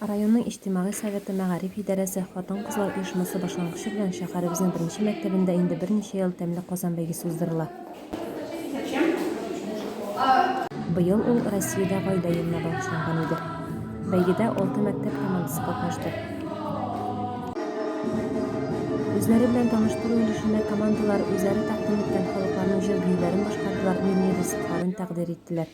Районның иҗтимагый советы, мәгариф идарәсе, хатын-кызлар оешмасы башлангычы белән шәһәребезнең беренче мәктәбендә инде берничә ел Тәмле Казан бәйгесе уздырыла. Быел ул Россиядә Гаилә елына багышланган иде. Бәйгедә алты мәктәп командасы катнашты. Үзләре белән таныштыру өлешендә командалар үзләре тәкъдим иткән халыкларның җыр-биюләрен башкардылар, милли ризыкларын тәкъдир иттеләр.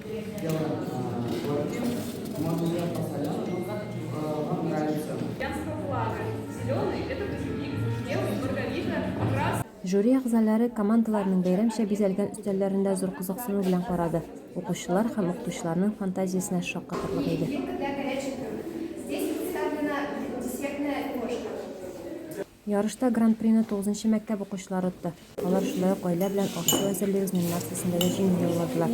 Жюри әгъзалары командаларның бәйрәмчә бизәлгән өстәлләрендә зур кызыксыну белән карады. Укучылар һәм укытучыларның фантазиясенә шаккатырлык иде. Ярышта Гран-прины тугызынчы мәктәп укучылары отты. Алар шулай ук гаилә белән аш-су әзерлибез номинациясендә дә җиңү яуладылар.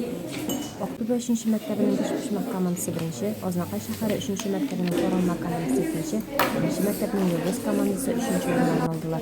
Актүбә өченче мәктәбенең бешпочмак командасы беренче, Азнакай шәһәре өченче мәктәбенең саралма командасы икенче, беренче мәктәпнең Йолдыз командасы өченче урыннарны алдылар.